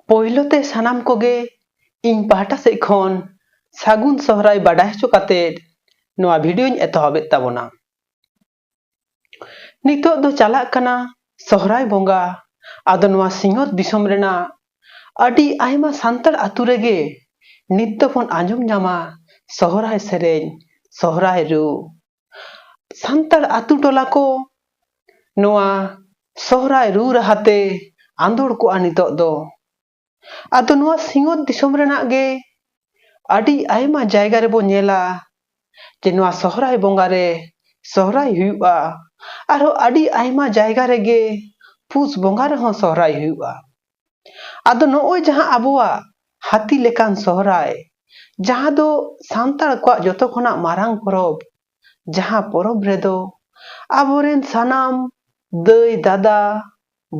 ᱯᱳᱭᱞᱳ ᱛᱮ ᱥᱟᱱᱟᱢ ᱠᱚᱜᱮ ᱤᱧ ᱯᱟᱦᱴᱟ ᱥᱮᱫ ᱠᱷᱚᱱ ᱥᱟᱹᱜᱩᱱ ᱥᱚᱦᱨᱟᱭ ᱵᱟᱰᱟᱭ ᱦᱚᱪᱚ ᱠᱟᱛᱮ ᱱᱚᱣᱟ ᱵᱷᱤᱰᱤᱭᱳᱧ ᱮᱛᱚᱦᱚᱵᱮᱫ ᱛᱟᱵᱚᱱᱟ ᱱᱤᱛᱚᱜ ᱫᱚ ᱪᱟᱞᱟᱜ ᱠᱟᱱᱟ ᱥᱚᱦᱨᱟᱭ ᱵᱚᱸᱜᱟ ᱟᱫᱚ ᱱᱚᱣᱟ ᱥᱤᱧᱚᱛ ᱫᱤᱥᱚᱢ ᱨᱮᱱᱟᱜ ᱟᱹᱰᱤ ᱟᱭᱢᱟ ᱥᱟᱱᱛᱟᱲ ᱟᱛᱳ ᱨᱮᱜᱮ ᱱᱤᱛ ᱫᱚᱵᱚᱱ ᱟᱸᱡᱚᱢ ᱧᱟᱢᱟ ᱥᱚᱦᱨᱟᱭ ᱥᱮᱨᱮᱧ ᱥᱚᱦᱨᱟᱭ ᱨᱩ ᱥᱟᱱᱛᱟᱲ ᱟᱛᱳ ᱴᱚᱞᱟ ᱠᱚ ᱱᱚᱣᱟ ᱥᱚᱦᱨᱟᱭ ᱨᱩ ᱨᱟᱦᱟ ᱛᱮ ᱟᱸᱫᱳᱲ ᱠᱚᱜᱼᱟ ᱱᱤᱛᱚᱜ ᱫᱚ ᱟᱫᱚ ᱱᱚᱣᱟ ᱥᱤᱧᱚᱛ ᱫᱤᱥᱚᱢ ᱨᱮᱱᱟᱜ ᱜᱮ ᱟᱹᱰᱤ ᱟᱭᱢᱟ ᱡᱟᱭᱜᱟ ᱨᱮᱵᱚ ᱧᱮᱞᱟ ᱡᱮ ᱱᱚᱣᱟ ᱥᱚᱦᱨᱟᱭ ᱵᱚᱸᱜᱟ ᱨᱮ ᱥᱚᱦᱨᱟᱭ ᱦᱩᱭᱩᱜᱼᱟ ᱟᱨᱦᱚᱸ ᱟᱹᱰᱤ ᱟᱭᱢᱟ ᱡᱟᱭᱜᱟ ᱨᱮᱜᱮ ᱯᱩᱥ ᱵᱚᱸᱜᱟ ᱨᱮᱦᱚᱸ ᱥᱚᱦᱨᱟᱭ ᱦᱩᱭᱩᱜᱼᱟ ᱟᱫᱚ ᱱᱚᱜᱼᱚᱭ ᱡᱟᱦᱟᱸ ᱟᱵᱚᱣᱟᱜ ᱦᱟᱹᱛᱤ ᱞᱮᱠᱟᱱ ᱥᱚᱦᱨᱟᱭ ᱡᱟᱦᱟᱸ ᱫᱚ ᱥᱟᱱᱛᱟᱲ ᱠᱚᱣᱟᱜ ᱡᱚᱛᱚ ᱠᱷᱚᱱᱟᱜ ᱢᱟᱨᱟᱝ ᱯᱚᱨᱚᱵᱽ ᱡᱟᱦᱟᱸ ᱯᱚᱨᱚᱵᱽ ᱨᱮᱫᱚ ᱟᱵᱚᱨᱮᱱ ᱥᱟᱱᱟᱢ ᱫᱟᱹᱭ ᱫᱟᱫᱟ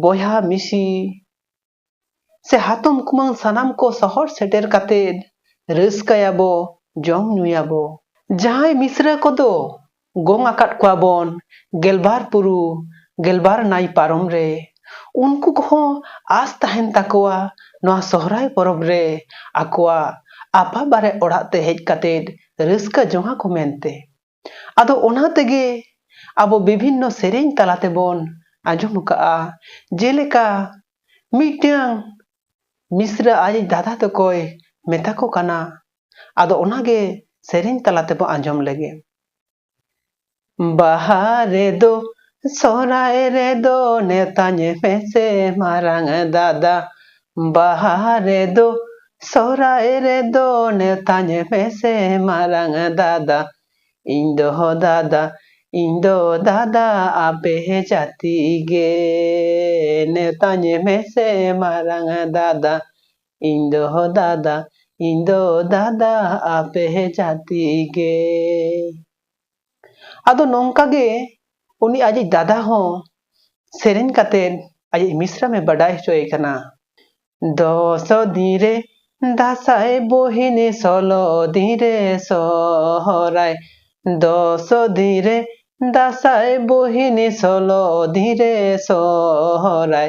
ᱵᱚᱭᱦᱟ ᱢᱤᱥᱤ ᱥᱮ ᱦᱟᱛᱚᱢ ᱠᱩᱢᱟᱹᱝ ᱥᱟᱱᱟᱢ ᱠᱚ ᱥᱚᱦᱚᱨ ᱥᱮᱴᱮᱨ ᱠᱟᱛᱮᱫ ᱨᱟᱹᱥᱠᱟᱹᱭᱟᱵᱚ ᱡᱚᱢ ᱧᱩᱭᱟᱵᱚ ᱡᱟᱦᱟᱸᱭ ᱢᱤᱥᱨᱟᱹ ᱠᱚᱫᱚ ᱜᱚᱝ ᱟᱠᱟᱫ ᱠᱚᱣᱟ ᱵᱚᱱ ᱜᱮᱞᱵᱟᱨ ᱯᱩᱨᱩ ᱜᱮᱞᱵᱟᱨ ᱱᱟᱭ ᱯᱟᱨᱚᱢ ᱨᱮ ᱩᱱᱠᱩ ᱠᱚᱦᱚᱸ ᱟᱥ ᱛᱟᱦᱮᱱ ᱛᱟᱠᱚᱣᱟ ᱱᱚᱣᱟ ᱥᱚᱦᱨᱟᱭ ᱯᱚᱨᱚᱵᱽ ᱨᱮ ᱟᱠᱚᱣᱟᱜ ᱟᱯᱟ ᱵᱟᱨᱮ ᱚᱲᱟᱜ ᱛᱮ ᱦᱮᱡ ᱠᱟᱛᱮ ᱨᱟᱹᱥᱠᱟᱹ ᱡᱚᱝ ᱟᱠᱚ ᱢᱮᱱᱛᱮ ᱟᱫᱚ ᱚᱱᱟ ᱛᱮᱜᱮ ᱟᱵᱚ ᱵᱤᱵᱷᱤᱱᱱᱚ ᱥᱮᱨᱮᱧ ᱛᱟᱞᱟ ᱛᱮᱵᱚᱱ ᱟᱸᱡᱚᱢ ᱟᱠᱟᱫᱼᱟ ᱡᱮᱞᱮᱠᱟ ᱢᱤᱫᱴᱟᱹᱝ ᱢᱤᱥᱨᱟ ᱟᱡᱤᱡ ᱫᱟᱫᱟ ᱛᱟᱠᱚᱭ ᱢᱮᱛᱟ ᱠᱚ ᱠᱟᱱᱟ ᱟᱫᱚ ᱚᱱᱟᱜᱮ ᱥᱮᱨᱮᱧ ᱛᱟᱞᱟ ᱛᱮᱵᱚ ᱟᱸᱡᱚᱢ ᱞᱮᱜᱮ ᱵᱟᱦᱟ ᱨᱮᱫᱚ ᱥᱚᱦᱨᱟᱭ ᱨᱮᱫᱚ ᱱᱮᱣᱛᱟᱧ ᱢᱮᱥᱮ ᱢᱟᱨᱟᱝ ᱫᱟᱫᱟ ᱵᱟᱦᱟ ᱨᱮᱫᱚ ᱥᱚᱦᱨᱟᱭ ᱨᱮᱫᱚ ᱱᱮᱣᱛᱟᱧ ᱢᱮᱥᱮ ᱢᱟᱨᱟᱝ ᱫᱟᱫᱟ ᱤᱧ ᱫᱚ ᱫᱟᱫᱟ ᱤᱧ ᱫᱚ ᱫᱟᱫᱟ ᱟᱯᱮ ᱡᱟᱹᱛᱤ ᱜᱮ ᱱᱮᱣᱛᱟᱧ ᱢᱮᱥᱮ ᱢᱟᱨᱟᱝ ᱫᱟᱫᱟ ᱤᱧ ᱫᱚ ᱦᱚ ᱫᱟᱫᱟ ᱤᱧ ᱫᱚ ᱫᱟᱫᱟ ᱟᱯᱮ ᱦᱮ ᱡᱟᱛᱤ ᱜᱮ ᱟᱫᱚ ᱱᱚᱝᱠᱟ ᱜᱮ ᱩᱱᱤ ᱟᱡᱤᱡ ᱫᱟᱫᱟ ᱦᱚᱸ ᱥᱮᱨᱮᱧ ᱠᱟᱛᱮᱫ ᱟᱡᱤᱡ ᱢᱤᱥᱨᱟᱢ ᱮ ᱵᱟᱰᱟᱭ ᱦᱚᱪᱚᱭᱮ ᱠᱟᱱᱟ ᱫᱚᱥ ᱫᱤᱱ ᱨᱮ ᱫᱟᱥᱟᱭ ᱵᱳᱦᱤᱱᱤ ᱥᱚᱞᱚ ᱫᱤᱱ ᱨᱮ ᱥᱚᱦᱚᱨᱟᱭ ᱫᱚᱥ ᱫᱤᱱ ᱨᱮ ᱫᱟᱥᱟᱭ ᱵᱳᱦᱤᱱᱤ ᱥᱚᱞᱚ ᱫᱤᱱ ᱨᱮ ᱥᱚᱦᱚᱨᱟᱭ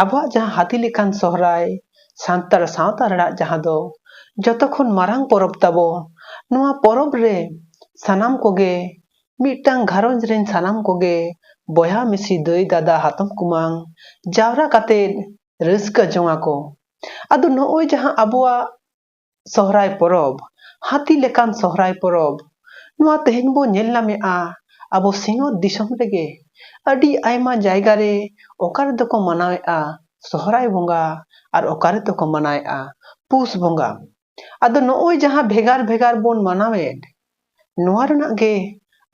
ᱟᱵᱚᱣᱟᱜ ᱡᱟᱦᱟᱸ ᱦᱟᱹᱛᱤ ᱞᱮᱠᱟᱱ ᱥᱚᱦᱨᱟᱭ ᱥᱟᱱᱛᱟᱲ ᱥᱟᱶᱛᱟ ᱨᱮᱱᱟᱜ ᱡᱟᱦᱟᱸ ᱫᱚ ᱡᱚᱛᱚ ᱠᱷᱚᱱ ᱢᱟᱨᱟᱝ ᱯᱚᱨᱚᱵᱽ ᱛᱟᱵᱚ ᱱᱚᱣᱟ ᱯᱚᱨᱚᱵᱽ ᱨᱮ ᱥᱟᱱᱟᱢ ᱠᱚᱜᱮ ᱢᱤᱫᱴᱟᱝ ᱜᱷᱟᱨᱚᱸᱡᱽ ᱨᱮᱱ ᱥᱟᱱᱟᱢ ᱠᱚᱜᱮ ᱵᱚᱭᱦᱟ ᱢᱤᱥᱤ ᱫᱟᱹᱭ ᱫᱟᱫᱟ ᱦᱟᱛᱚᱢ ᱠᱩᱢᱟᱝ ᱡᱟᱣᱨᱟ ᱠᱟᱛᱮ ᱨᱟᱹᱥᱠᱟᱹ ᱡᱚᱝ ᱟᱠᱚ ᱟᱫᱚ ᱱᱚᱜᱼᱚᱭ ᱡᱟᱦᱟᱸ ᱟᱵᱚᱣᱟᱜ ᱥᱚᱦᱨᱟᱭ ᱯᱚᱨᱚᱵᱽ ᱦᱟᱹᱛᱤ ᱞᱮᱠᱟᱱ ᱥᱚᱦᱨᱟᱭ ᱯᱚᱨᱚᱵᱽ ᱱᱚᱣᱟ ᱛᱮᱦᱮᱧ ᱵᱚ ᱧᱮᱞ ᱧᱟᱢᱮᱜᱼᱟ ᱟᱵᱚ ᱥᱤᱧᱚᱛ ᱫᱤᱥᱚᱢ ᱨᱮᱜᱮ ᱟᱹᱰᱤ ᱟᱭᱢᱟ ᱡᱟᱭᱜᱟ ᱨᱮ ᱚᱠᱟ ᱨᱮᱫᱚ ᱠᱚ ᱢᱟᱱᱟᱣᱮᱜᱼᱟ ᱥᱚᱦᱨᱟᱭ ᱵᱚᱸᱜᱟ ᱟᱨ ᱚᱠᱟ ᱨᱮᱫᱚ ᱠᱚ ᱢᱟᱱᱟᱣᱮᱜᱼᱟ ᱯᱩᱥ ᱵᱚᱸᱜᱟ ᱟᱫᱚ ᱱᱚᱜᱼᱚᱭ ᱡᱟᱦᱟᱸ ᱵᱷᱮᱜᱟᱨ ᱵᱷᱮᱜᱟᱨ ᱵᱚᱱ ᱢᱟᱱᱟᱣᱮᱫ ᱱᱚᱣᱟ ᱨᱮᱱᱟᱜ ᱜᱮ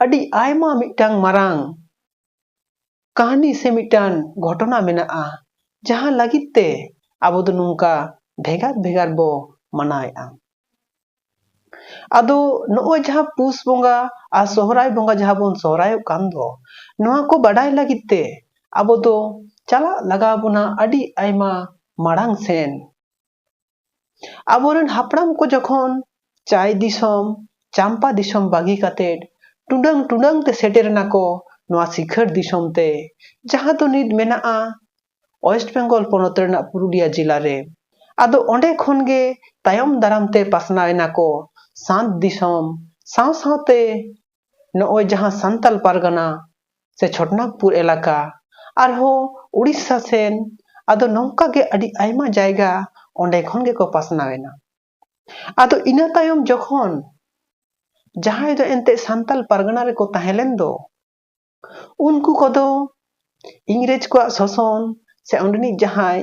ᱟᱹᱰᱤ ᱟᱭᱢᱟ ᱢᱤᱫᱴᱟᱝ ᱢᱟᱨᱟᱝ ᱠᱟᱹᱦᱱᱤ ᱥᱮ ᱢᱤᱫᱴᱟᱝ ᱜᱷᱚᱴᱚᱱᱟ ᱢᱮᱱᱟᱜᱼᱟ ᱡᱟᱦᱟᱸ ᱞᱟᱹᱜᱤᱫ ᱛᱮ ᱟᱵᱚ ᱫᱚ ᱱᱚᱝᱠᱟ ᱵᱷᱮᱜᱟᱨ ᱵᱷᱮᱜᱟᱨ ᱵᱚ ᱢᱟᱱᱟᱣᱮᱫᱼᱟ ᱟᱫᱚ ᱱᱚᱜᱼᱚᱭ ᱡᱟᱦᱟᱸ ᱯᱩᱥ ᱵᱚᱸᱜᱟ ᱟᱨ ᱥᱚᱦᱨᱟᱭ ᱵᱚᱸᱜᱟ ᱡᱟᱦᱟᱸ ᱵᱚᱱ ᱥᱚᱦᱨᱟᱭᱚᱜ ᱠᱟᱱ ᱫᱚ ᱱᱚᱣᱟ ᱠᱚ ᱵᱟᱰᱟᱭ ᱞᱟᱹᱜᱤᱫ ᱛᱮ ᱟᱵᱚ ᱫᱚ ᱪᱟᱞᱟᱜ ᱞᱟᱜᱟᱣ ᱵᱚᱱᱟ ᱟᱹᱰᱤ ᱟᱭᱢᱟ ᱢᱟᱲᱟᱝ ᱥᱮᱱ ᱟᱵᱚᱨᱮᱱ ᱦᱟᱯᱲᱟᱢ ᱠᱚ ᱡᱚᱠᱷᱚᱱ ᱪᱟᱭ ᱫᱤᱥᱚᱢ ᱪᱟᱢᱯᱟ ᱫᱤᱥᱚᱢ ᱵᱟᱹᱜᱤ ᱠᱟᱛᱮᱫ ᱴᱩᱰᱟᱹᱝ ᱴᱩᱰᱟᱹᱝ ᱛᱮ ᱥᱮᱴᱮᱨ ᱮᱱᱟ ᱠᱚ ᱱᱚᱣᱟ ᱥᱤᱠᱷᱟᱹᱨ ᱫᱤᱥᱚᱢ ᱛᱮ ᱡᱟᱦᱟᱸ ᱫᱚ ᱱᱤᱛ ᱢᱮᱱᱟᱜᱼᱟ ᱳᱭᱮᱥᱴ ᱵᱮᱝᱜᱚᱞ ᱯᱚᱱᱚᱛ ᱨᱮᱱᱟᱜ ᱯᱩᱨᱩᱞᱤᱭᱟ ᱡᱮᱞᱟ ᱨᱮ ᱟᱫᱚ ᱚᱸᱰᱮ ᱠᱷᱚᱱ ᱜᱮ ᱛᱟᱭᱚᱢ ᱫᱟᱨᱟᱢ ᱛᱮ ᱯᱟᱥᱱᱟᱣ ᱮᱱᱟ ᱠᱚ ᱥᱟᱸᱛ ᱫᱤᱥᱚᱢ ᱥᱟᱶ ᱥᱟᱶᱛᱮ ᱱᱚᱜᱼᱚᱭ ᱡᱟᱦᱟᱸ ᱥᱟᱱᱛᱟᱞ ᱯᱟᱨᱜᱟᱱᱟ ᱥᱮ ᱪᱷᱚᱴᱱᱟᱜᱽᱯᱩᱨ ᱮᱞᱟᱠᱟ ᱟᱨᱦᱚᱸ ᱩᱲᱤᱥᱥᱟ ᱥᱮᱱ ᱟᱫᱚ ᱱᱚᱝᱠᱟ ᱜᱮ ᱟᱹᱰᱤ ᱟᱭᱢᱟ ᱡᱟᱭᱜᱟ ᱚᱸᱰᱮ ᱠᱷᱚᱱ ᱜᱮᱠᱚ ᱯᱟᱥᱱᱟᱣ ᱮᱱᱟ ᱟᱫᱚ ᱤᱱᱟᱹ ᱛᱟᱭᱚᱢ ᱡᱚᱠᱷᱚᱱ ᱡᱟᱦᱟᱸᱭ ᱫᱚ ᱮᱱᱛᱮᱫ ᱥᱟᱱᱛᱟᱞ ᱯᱟᱨᱜᱟᱱᱟ ᱨᱮᱠᱚ ᱛᱟᱦᱮᱸ ᱞᱮᱱ ᱫᱚ ᱩᱱᱠᱩ ᱠᱚᱫᱚ ᱤᱝᱨᱮᱡᱽ ᱠᱚᱣᱟᱜ ᱥᱚᱥᱚᱱ ᱥᱮ ᱚᱸᱰᱮᱱᱤᱡ ᱡᱟᱦᱟᱸᱭ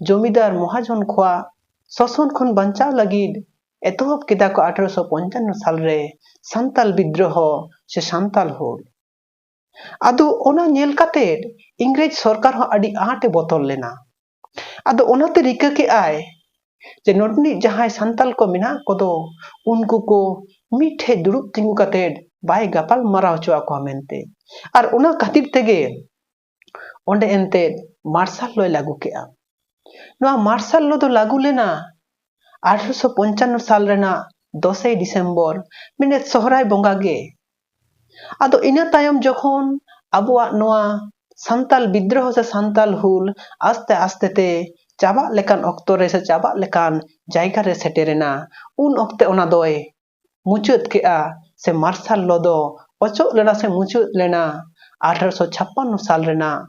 ᱡᱚᱢᱤᱫᱟᱨ ᱢᱚᱦᱟᱡᱚᱱ ᱠᱚᱣᱟᱜ ᱥᱚᱥᱚᱱ ᱠᱷᱚᱱ ᱵᱟᱧᱪᱟᱣ ᱞᱟᱹᱜᱤᱫ ᱮᱛᱚᱦᱚᱵ ᱠᱮᱫᱟ ᱠᱚ ᱟᱴᱷᱨᱚᱥᱚ ᱯᱚᱧᱪᱟᱱᱱᱚ ᱥᱟᱞ ᱨᱮ ᱥᱟᱱᱛᱟᱞ ᱵᱤᱫᱽᱫᱨᱚᱦᱚ ᱥᱮ ᱥᱟᱱᱛᱟᱞ ᱦᱩᱞ᱾ ᱟᱫᱚ ᱚᱱᱟ ᱧᱮᱞ ᱠᱟᱛᱮ ᱤᱝᱨᱮᱡᱽ ᱥᱚᱨᱠᱟᱨ ᱦᱚᱸ ᱟᱹᱰᱤ ᱟᱸᱴ ᱮ ᱵᱚᱛᱚᱨ ᱞᱮᱱᱟ᱾ ᱟᱫᱚ ᱚᱱᱟᱛᱮ ᱨᱤᱠᱟᱹ ᱠᱮᱫ ᱟᱭ ᱡᱮ ᱱᱚᱰᱮᱱᱤᱡ ᱡᱟᱦᱟᱸᱭ ᱥᱟᱱᱛᱟᱞ ᱠᱚ ᱢᱮᱱᱟᱜ ᱠᱚᱫᱚ ᱩᱱᱠᱩ ᱠᱚ ᱢᱤᱫ ᱴᱷᱮᱡ ᱫᱩᱲᱩᱵ ᱛᱤᱸᱜᱩ ᱠᱟᱛᱮᱫ ᱵᱟᱭ ᱜᱟᱯᱟᱞ ᱢᱟᱨᱟᱣ ᱦᱚᱪᱚ ᱟᱠᱚᱣᱟ ᱢᱮᱱᱛᱮ ᱟᱨ ᱚᱱᱟ ᱠᱷᱟᱹᱛᱤᱨ ᱛᱮᱜᱮ ᱚᱸᱰᱮ ᱮᱱᱛᱮᱫ ᱢᱟᱨᱥᱟᱞ ᱞᱚᱭ ᱞᱟᱹᱜᱩ ᱠᱮᱫᱼᱟ ᱱᱚᱣᱟ ᱢᱟᱨᱥᱟᱞ ᱞᱚ ᱫᱚ ᱞᱟᱹᱜᱩ ᱞᱮᱱᱟ ᱟᱴᱷᱨᱚᱥᱚ ᱯᱚᱧᱪᱟᱱᱱᱚ ᱥᱟᱞ ᱨᱮᱱᱟᱜ ᱫᱚᱥᱮᱭ ᱰᱤᱥᱮᱢᱵᱚᱨ ᱢᱮᱱᱮᱫ ᱥᱚᱦᱨᱟᱭ ᱵᱚᱸᱜᱟ ᱜᱮ ᱟᱫᱚ ᱤᱱᱟᱹ ᱛᱟᱭᱚᱢ ᱡᱚᱠᱷᱚᱱ ᱟᱵᱚᱣᱟᱜ ᱱᱚᱣᱟ ᱥᱟᱱᱛᱟᱞ ᱵᱤᱫᱽᱫᱨᱚᱦᱚ ᱥᱮ ᱥᱟᱱᱛᱟᱞ ᱦᱩᱞ ᱟᱥᱛᱮ ᱟᱥᱛᱮ ᱛᱮ ᱪᱟᱵᱟᱜ ᱞᱮᱠᱟᱱ ᱚᱠᱛᱚ ᱨᱮ ᱥᱮ ᱪᱟᱵᱟᱜ ᱞᱮᱠᱟᱱ ᱡᱟᱭᱜᱟ ᱨᱮ ᱥᱮᱴᱮᱨᱮᱱᱟ ᱩᱱ ᱚᱠᱛᱮ ᱚᱱᱟ ᱫᱚᱭ ᱢᱩᱪᱟᱹᱫ ᱠᱮᱫᱼᱟ ᱥᱮ ᱢᱟᱨᱥᱟᱞ ᱞᱚ ᱫᱚ ᱚᱪᱚᱜ ᱞᱮᱱᱟ ᱥᱮ ᱢᱩᱪᱟᱹᱫ ᱞᱮᱱᱟ ᱟᱴᱷᱨᱚᱥᱚ ᱪᱷᱟᱯᱯᱟᱱᱱᱚ ᱥᱟᱞ ᱨᱮᱱᱟᱜ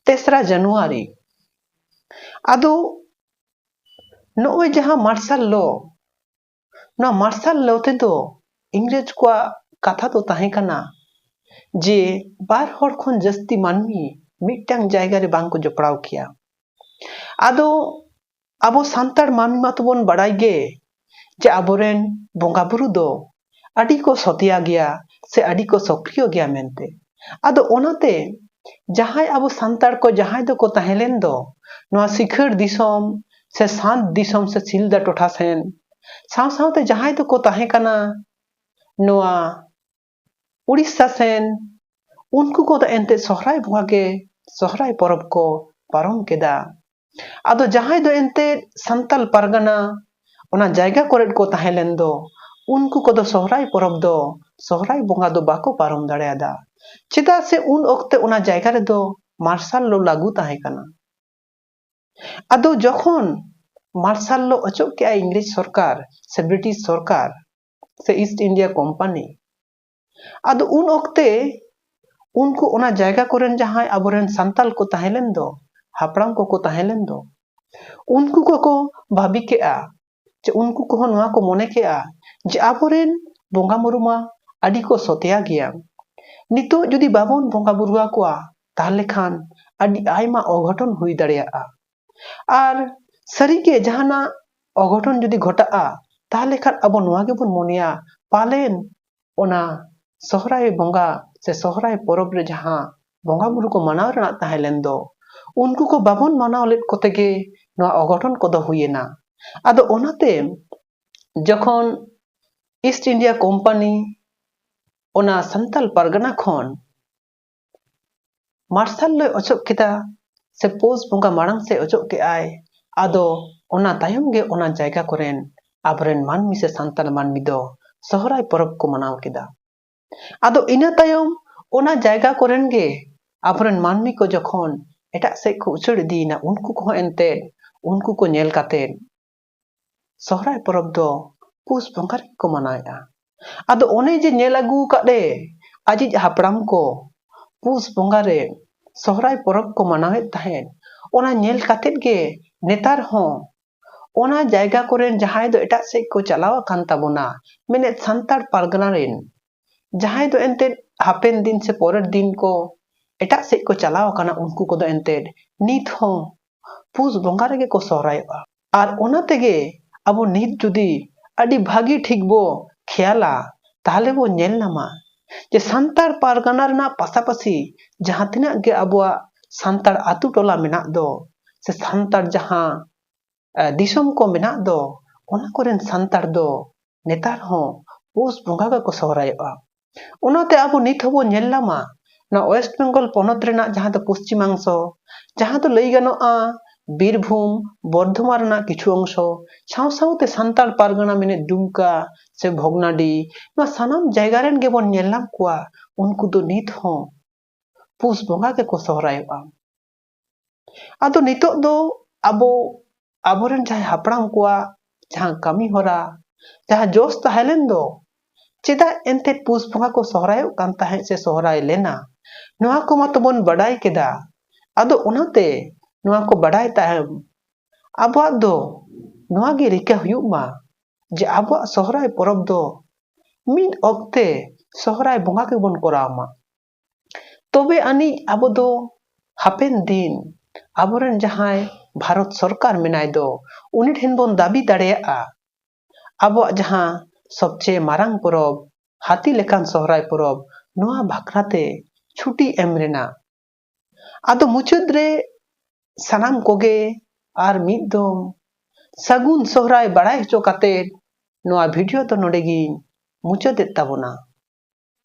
ᱛᱮᱥᱨᱟ ᱡᱟᱱᱩᱣᱟᱨᱤ ᱟᱫᱚ ᱱᱚᱜᱼᱚᱭ ᱡᱟᱦᱟᱸ ᱢᱟᱨᱥᱟᱞ ᱞᱚ ᱱᱚᱣᱟ ᱢᱟᱨᱥᱟᱞ ᱞᱚ ᱛᱮᱫᱚ ᱤᱝᱨᱮᱡᱽ ᱠᱚᱣᱟᱜ ᱠᱟᱛᱷᱟ ᱫᱚ ᱛᱟᱦᱮᱸ ᱠᱟᱱᱟ ᱡᱮ ᱵᱟᱨ ᱦᱚᱲ ᱠᱷᱚᱱ ᱡᱟᱹᱥᱛᱤ ᱢᱟᱹᱱᱢᱤ ᱢᱤᱫᱴᱟᱝ ᱡᱟᱭᱜᱟ ᱨᱮ ᱵᱟᱝ ᱠᱚ ᱡᱚᱯᱲᱟᱣ ᱠᱮᱭᱟ ᱟᱫᱚ ᱟᱵᱚ ᱥᱟᱱᱛᱟᱲ ᱢᱟᱹᱱᱢᱤ ᱢᱟᱛᱚ ᱵᱚᱱ ᱵᱟᱲᱟᱭ ᱜᱮ ᱡᱮ ᱟᱵᱚᱨᱮᱱ ᱵᱚᱸᱜᱟ ᱵᱩᱨᱩ ᱫᱚ ᱟᱹᱰᱤ ᱠᱚ ᱥᱚᱛᱮᱭᱟ ᱜᱮᱭᱟ ᱥᱮ ᱟᱹᱰᱤ ᱠᱚ ᱥᱚᱠᱨᱤᱭᱚ ᱜᱮᱭᱟ ᱢᱮᱱᱛᱮ ᱟᱫᱚ ᱚᱱᱟᱛᱮ ᱡᱟᱦᱟᱸᱭ ᱟᱵᱚ ᱥᱟᱱᱛᱟᱲ ᱠᱚ ᱡᱟᱦᱟᱸᱭ ᱫᱚᱠᱚ ᱛᱟᱦᱮᱸ ᱞᱮᱱ ᱫᱚ ᱱᱚᱣᱟ ᱥᱤᱠᱷᱟᱹᱲ ᱫᱤᱥᱚᱢ ᱥᱮ ᱥᱟᱸᱛ ᱫᱤᱥᱚᱢ ᱥᱮ ᱥᱤᱞᱫᱟ ᱴᱚᱴᱷᱟ ᱥᱮᱱ ᱥᱟᱶ ᱥᱟᱶᱛᱮ ᱡᱟᱦᱟᱸᱭ ᱫᱚᱠᱚ ᱛᱟᱦᱮᱸ ᱠᱟᱱᱟ ᱱᱚᱣᱟ ᱩᱲᱤᱥᱥᱟ ᱥᱮᱱ ᱩᱱᱠᱩ ᱠᱚᱫᱚ ᱮᱱᱛᱮᱫ ᱥᱚᱦᱨᱟᱭ ᱵᱚᱸᱜᱟ ᱜᱮ ᱥᱚᱦᱨᱟᱭ ᱯᱚᱨᱚᱵᱽ ᱠᱚ ᱯᱟᱨᱚᱢ ᱠᱮᱫᱟ ᱟᱫᱚ ᱡᱟᱦᱟᱸᱭ ᱫᱚ ᱮᱱᱛᱮᱫ ᱥᱟᱱᱛᱟᱞ ᱯᱟᱨᱜᱟᱱᱟ ᱚᱱᱟ ᱡᱟᱭᱜᱟ ᱠᱚᱨᱮ ᱠᱚ ᱛᱟᱦᱮᱸ ᱞᱮᱱ ᱫᱚ ᱩᱱᱠᱩ ᱠᱚᱫᱚ ᱥᱚᱦᱨᱟᱭ ᱯᱚᱨᱚᱵᱽ ᱫᱚ ᱥᱚᱦᱨᱟᱭ ᱵᱚᱸᱜᱟ ᱫᱚ ᱵᱟᱠᱚ ᱯᱟᱨᱚᱢ ᱫᱟᱲᱮᱭᱟᱫᱟ ᱪᱮᱫᱟᱜ ᱥᱮ ᱩᱱ ᱚᱠᱛᱮ ᱚᱱᱟ ᱡᱟᱭᱜᱟ ᱨᱮᱫᱚ ᱢᱟᱨᱥᱟᱞ ᱞᱚ ᱞᱟᱹᱜᱩ ᱛᱟᱦᱮᱸ ᱠᱟᱱᱟ ᱟᱫᱚ ᱡᱚᱠᱷᱚᱱ ᱢᱟᱨᱥᱟᱞ ᱞᱚ ᱚᱪᱚᱜ ᱠᱮᱜᱼᱟ ᱤᱝᱨᱮᱡᱽ ᱥᱚᱨᱠᱟᱨ ᱥᱮ ᱵᱨᱤᱴᱤᱥ ᱥᱚᱨᱠᱟᱨ ᱥᱮ ᱤᱥᱴ ᱤᱱᱰᱤᱭᱟ ᱠᱳᱢᱯᱟᱱᱤ ᱟᱫᱚ ᱩᱱ ᱚᱠᱛᱮ ᱩᱱᱠᱩ ᱚᱱᱟ ᱡᱟᱭᱜᱟ ᱠᱚᱨᱮᱱ ᱡᱟᱦᱟᱸᱭ ᱟᱵᱚᱨᱮᱱ ᱥᱟᱱᱛᱟᱞ ᱠᱚ ᱛᱟᱦᱮᱸ ᱞᱮᱱ ᱫᱚ ᱦᱟᱯᱲᱟᱢ ᱠᱚᱠᱚ ᱛᱟᱦᱮᱸ ᱞᱮᱱ ᱫᱚ ᱩᱱᱠᱩ ᱠᱚᱠᱚ ᱵᱷᱟᱵᱤ ᱠᱮᱜᱼᱟ ᱡᱮ ᱩᱱᱠᱩ ᱠᱚᱦᱚᱸ ᱱᱚᱣᱟ ᱠᱚ ᱢᱚᱱᱮ ᱠᱮᱜᱼᱟ ᱡᱮ ᱟᱵᱚᱨᱮᱱ ᱵᱚᱸᱜᱟ ᱢᱩᱨᱩ ᱢᱟ ᱟᱹᱰᱤ ᱠᱚ ᱥᱚᱛᱮᱭᱟ ᱜᱮᱭᱟ ᱱᱤᱛᱚᱜ ᱡᱩᱫᱤ ᱵᱟᱵᱚᱱ ᱵᱚᱸᱜᱟ ᱵᱩᱨᱩ ᱟᱠᱚᱣᱟ ᱛᱟᱦᱞᱮ ᱠᱷᱟᱱ ᱟᱹᱰᱤ ᱟᱭᱢᱟ ᱚᱜᱷᱚᱴᱚᱱ ᱦᱩᱭ ᱫᱟᱲᱮᱭᱟᱜᱼᱟ ᱟᱨ ᱥᱟᱹᱨᱤ ᱜᱮ ᱡᱟᱦᱟᱱᱟᱜ ᱚᱜᱷᱚᱴᱚᱱ ᱡᱩᱫᱤ ᱜᱷᱚᱴᱟᱜᱼᱟ ᱛᱟᱦᱚᱞᱮ ᱠᱷᱟᱱ ᱟᱵᱚ ᱱᱚᱣᱟ ᱜᱮᱵᱚᱱ ᱢᱚᱱᱮᱭᱟ ᱯᱟᱞᱮᱱ ᱚᱱᱟ ᱥᱚᱦᱨᱟᱭ ᱵᱚᱸᱜᱟ ᱥᱮ ᱥᱚᱦᱨᱟᱭ ᱯᱚᱨᱚᱵᱽ ᱨᱮ ᱡᱟᱦᱟᱸ ᱵᱚᱸᱜᱟ ᱵᱩᱨᱩ ᱠᱚ ᱢᱟᱱᱟᱣ ᱨᱮᱱᱟᱜ ᱛᱟᱦᱮᱸ ᱞᱮᱱ ᱫᱚ ᱩᱱᱠᱩ ᱠᱚ ᱵᱟᱵᱚᱱ ᱢᱟᱱᱟᱣ ᱞᱮᱫ ᱠᱚᱛᱮ ᱜᱮ ᱱᱚᱣᱟ ᱚᱜᱷᱚᱴᱚᱱ ᱠᱚᱫᱚ ᱦᱩᱭᱮᱱᱟ ᱟᱫᱚ ᱚᱱᱟᱛᱮ ᱡᱚᱠᱷᱚᱱ ᱤᱥᱴ ᱤᱱᱰᱤᱭᱟ ᱠᱳᱢᱯᱟᱱᱤ ᱚᱱᱟ ᱥᱟᱱᱛᱟᱞ ᱯᱟᱨᱜᱟᱱᱟ ᱠᱷᱚᱱ ᱢᱟᱨᱥᱟᱞ ᱫᱚᱭ ᱚᱪᱚᱜ ᱠᱮᱫᱟ ᱥᱮ ᱯᱳᱥ ᱵᱚᱸᱜᱟ ᱢᱟᱲᱟᱝ ᱥᱮᱫ ᱚᱪᱚᱜ ᱠᱮᱫ ᱟᱭ ᱟᱫᱚ ᱚᱱᱟ ᱛᱟᱭᱚᱢ ᱜᱮ ᱚᱱᱟ ᱡᱟᱭᱜᱟ ᱠᱚᱨᱮᱱ ᱟᱵᱚᱨᱮᱱ ᱢᱟᱹᱱᱢᱤ ᱥᱮ ᱥᱟᱱᱛᱟᱲ ᱢᱟᱹᱱᱢᱤ ᱫᱚ ᱥᱚᱦᱨᱟᱭ ᱯᱚᱨᱚᱵᱽ ᱠᱚ ᱢᱟᱱᱟᱣ ᱠᱮᱫᱟ ᱟᱫᱚ ᱤᱱᱟᱹ ᱛᱟᱭᱚᱢ ᱚᱱᱟ ᱡᱟᱭᱜᱟ ᱠᱚᱨᱮᱱ ᱜᱮ ᱟᱵᱚᱨᱮᱱ ᱢᱟᱹᱱᱢᱤ ᱠᱚ ᱡᱚᱠᱷᱚᱱ ᱮᱴᱟᱜ ᱥᱮᱫ ᱠᱚ ᱩᱪᱟᱹᱲ ᱤᱫᱤᱭᱮᱱᱟ ᱩᱱᱠᱩ ᱠᱚᱦᱚᱸ ᱮᱱᱛᱮᱫ ᱩᱱᱠᱩ ᱠᱚ ᱧᱮᱞ ᱠᱟᱛᱮᱫ ᱥᱚᱦᱨᱟᱭ ᱯᱚᱨᱚᱵᱽ ᱫᱚ ᱯᱩᱥ ᱵᱚᱸᱜᱟ ᱨᱮᱜᱮ ᱠᱚ ᱢᱟᱱᱟᱣᱮᱫᱼᱟ ᱟᱫᱚ ᱚᱱᱮ ᱡᱮ ᱧᱮᱞ ᱟᱹᱜᱩ ᱟᱠᱟᱫ ᱞᱮ ᱟᱡᱤᱡ ᱦᱟᱯᱲᱟᱢ ᱠᱚ ᱯᱩᱥ ᱵᱚᱸᱜᱟ ᱨᱮ ᱥᱚᱦᱨᱟᱭ ᱯᱚᱨᱚᱵᱽ ᱠᱚ ᱢᱟᱱᱟᱣᱮᱫ ᱛᱟᱦᱮᱸᱫ ᱚᱱᱟ ᱧᱮᱞ ᱠᱟᱛᱮᱫ ᱜᱮ ᱱᱮᱛᱟᱨ ᱦᱚᱸ ᱚᱱᱟ ᱡᱟᱭᱜᱟ ᱠᱚᱨᱮᱱ ᱡᱟᱦᱟᱸᱭ ᱫᱚ ᱮᱴᱟᱜ ᱥᱮᱫ ᱠᱚ ᱪᱟᱞᱟᱣ ᱟᱠᱟᱱ ᱛᱟᱵᱚᱱᱟ ᱢᱮᱱᱮᱫ ᱥᱟᱱᱛᱟᱲ ᱯᱟᱨᱜᱟᱱᱟ ᱨᱮᱱ ᱡᱟᱦᱟᱸᱭ ᱫᱚ ᱮᱱᱛᱮᱫ ᱦᱟᱯᱮᱱ ᱫᱤᱱ ᱥᱮ ᱯᱚᱨᱮᱨ ᱫᱤᱱ ᱠᱚ ᱮᱴᱟᱜ ᱥᱮᱫ ᱠᱚ ᱪᱟᱞᱟᱣ ᱟᱠᱟᱱᱟ ᱩᱱᱠᱩ ᱠᱚᱫᱚ ᱮᱱᱛᱮᱫ ᱱᱤᱛ ᱦᱚᱸ ᱯᱩᱥ ᱵᱚᱸᱜᱟ ᱨᱮᱜᱮ ᱠᱚ ᱥᱚᱦᱨᱟᱭᱚᱜᱼᱟ ᱟᱨ ᱚᱱᱟ ᱛᱮᱜᱮ ᱟᱵᱚ ᱱᱤᱛ ᱡᱩᱫᱤ ᱟᱹᱰᱤ ᱵᱷᱟᱹᱜᱤ ᱴᱷᱤᱠ ᱵᱚ ᱠᱷᱮᱭᱟᱞᱟ ᱛᱟᱦᱚᱞᱮ ᱵᱚ ᱧᱮᱞ ᱧᱟᱢᱟ ᱡᱮ ᱥᱟᱱᱛᱟᱲ ᱯᱟᱨᱜᱟᱱᱟ ᱨᱮᱱᱟᱜ ᱯᱟᱥᱟᱯᱟᱥᱤ ᱡᱟᱦᱟᱸ ᱛᱤᱱᱟᱹᱜ ᱜᱮ ᱟᱵᱚᱣᱟᱜ ᱥᱟᱱᱛᱟᱲ ᱟᱛᱳ ᱴᱚᱞᱟ ᱢᱮᱱᱟᱜ ᱫᱚ ᱥᱮ ᱥᱟᱱᱛᱟᱲ ᱡᱟᱦᱟᱸ ᱫᱤᱥᱚᱢ ᱠᱚ ᱢᱮᱱᱟᱜ ᱫᱚ ᱚᱱᱟ ᱠᱚᱨᱮᱱ ᱥᱟᱱᱛᱟᱲ ᱫᱚ ᱱᱮᱛᱟᱨ ᱦᱚᱸ ᱯᱩᱥ ᱵᱚᱸᱜᱟ ᱜᱮᱠᱚ ᱥᱚᱦᱨᱟᱭᱚᱜᱼᱟ ᱚᱱᱟᱛᱮ ᱟᱵᱚ ᱱᱤᱛ ᱦᱚᱸᱵᱚᱱ ᱧᱮᱞ ᱧᱟᱢᱟ ᱱᱚᱣᱟ ᱳᱭᱮᱥᱴ ᱵᱮᱝᱜᱚᱞ ᱯᱚᱱᱚᱛ ᱨᱮᱱᱟᱜ ᱡᱟᱦᱟᱸ ᱫᱚ ᱯᱚᱥᱪᱤᱢᱟᱝᱥᱚ ᱡᱟᱦᱟᱸ ᱫᱚ ᱞᱟᱹᱭ ᱜᱟᱱᱚᱜᱼᱟ ᱵᱤᱨᱵᱷᱩᱢ ᱵᱚᱨᱫᱷᱚᱢᱟᱱ ᱨᱮᱱᱟᱜ ᱠᱤᱪᱷᱩ ᱚᱝᱥᱚ ᱥᱟᱶ ᱥᱟᱶᱛᱮ ᱥᱟᱱᱛᱟᱲ ᱯᱟᱨᱜᱟᱱᱟ ᱢᱮᱱᱮᱫ ᱫᱩᱢᱠᱟ ᱥᱮ ᱵᱷᱚᱜᱽᱱᱟᱰᱤ ᱱᱚᱣᱟ ᱥᱟᱱᱟᱢ ᱡᱟᱭᱜᱟ ᱨᱮᱱ ᱜᱮᱵᱚᱱ ᱧᱮᱞ ᱧᱟᱢ ᱠᱚᱣᱟ ᱩᱱᱠᱩ ᱫᱚ ᱱᱤᱛ ᱦᱚᱸ ᱯᱩᱥ ᱵᱚᱸᱜᱟ ᱜᱮᱠᱚ ᱥᱚᱦᱨᱟᱭᱚᱜᱼᱟ ᱟᱫᱚ ᱱᱤᱛᱚᱜ ᱫᱚ ᱟᱵᱚ ᱟᱵᱚᱨᱮᱱ ᱡᱟᱦᱟᱸᱭ ᱦᱟᱯᱲᱟᱢ ᱠᱚᱣᱟᱜ ᱡᱟᱦᱟᱸ ᱠᱟᱹᱢᱤ ᱦᱚᱨᱟ ᱡᱟᱦᱟᱸ ᱡᱚᱥ ᱛᱟᱦᱮᱸ ᱞᱮᱱ ᱫᱚ ᱪᱮᱫᱟᱜ ᱮᱱᱛᱮ ᱯᱩᱥ ᱵᱚᱸᱜᱟ ᱠᱚ ᱥᱚᱦᱨᱟᱭᱚᱜ ᱠᱟᱱ ᱛᱟᱦᱮᱸᱫ ᱥᱮ ᱥᱚᱦᱨᱟᱭ ᱞᱮᱱᱟ ᱱᱚᱣᱟ ᱠᱚ ᱢᱟᱛᱚ ᱵᱚᱱ ᱵᱟᱰᱟᱭ ᱠᱮᱫᱟ ᱟᱫᱚ ᱚᱱᱟᱛᱮ ᱱᱚᱣᱟ ᱠᱚ ᱵᱟᱰᱟᱭ ᱛᱟᱭᱚᱢ ᱟᱵᱚᱣᱟᱜ ᱫᱚ ᱱᱚᱣᱟ ᱜᱮ ᱨᱤᱠᱟᱹ ᱦᱩᱭᱩᱜ ᱢᱟ ᱡᱮ ᱟᱵᱚᱣᱟᱜ ᱥᱚᱦᱨᱟᱭ ᱯᱚᱨᱚᱵᱽ ᱫᱚ ᱢᱤᱫ ᱚᱠᱛᱮ ᱥᱚᱦᱨᱟᱭ ᱵᱚᱸᱜᱟ ᱜᱮᱵᱚᱱ ᱠᱚᱨᱟᱣ ᱢᱟ ᱛᱚᱵᱮ ᱟᱹᱱᱤᱡ ᱟᱵᱚ ᱫᱚ ᱦᱟᱯᱮᱱ ᱫᱤᱱ ᱟᱵᱚᱨᱮᱱ ᱡᱟᱦᱟᱸᱭ ᱵᱷᱟᱨᱚᱛ ᱥᱚᱨᱠᱟᱨ ᱢᱮᱱᱟᱭ ᱫᱚ ᱩᱱᱤ ᱴᱷᱮᱱ ᱵᱚᱱ ᱫᱟᱹᱵᱤ ᱫᱟᱲᱮᱭᱟᱜᱼᱟ ᱟᱵᱚᱣᱟᱜ ᱡᱟᱦᱟᱸ ᱥᱚᱵᱪᱮᱭᱮ ᱢᱟᱨᱟᱝ ᱯᱚᱨᱚᱵᱽ ᱦᱟᱹᱛᱤ ᱞᱮᱠᱟᱱ ᱥᱚᱦᱨᱟᱭ ᱯᱚᱨᱚᱵᱽ ᱱᱚᱣᱟ ᱵᱟᱠᱷᱨᱟᱛᱮ ᱪᱷᱩᱴᱤ ᱮᱢ ᱨᱮᱱᱟᱜ ᱟᱫᱚ ᱢᱩᱪᱟᱹᱫ ᱨᱮ ᱥᱟᱱᱟᱢ ᱠᱚᱜᱮ ᱟᱨ ᱢᱤᱫ ᱫᱚᱢ ᱥᱟᱹᱜᱩᱱ ᱥᱚᱦᱨᱟᱭ ᱵᱟᱲᱟᱭ ᱦᱚᱪᱚ ᱠᱟᱛᱮ ᱱᱚᱣᱟ ᱵᱷᱤᱰᱤᱭᱳ ᱫᱚ ᱱᱚᱰᱮ ᱜᱤᱧ ᱢᱩᱪᱟᱹᱫᱮᱫ ᱛᱟᱵᱚᱱᱟ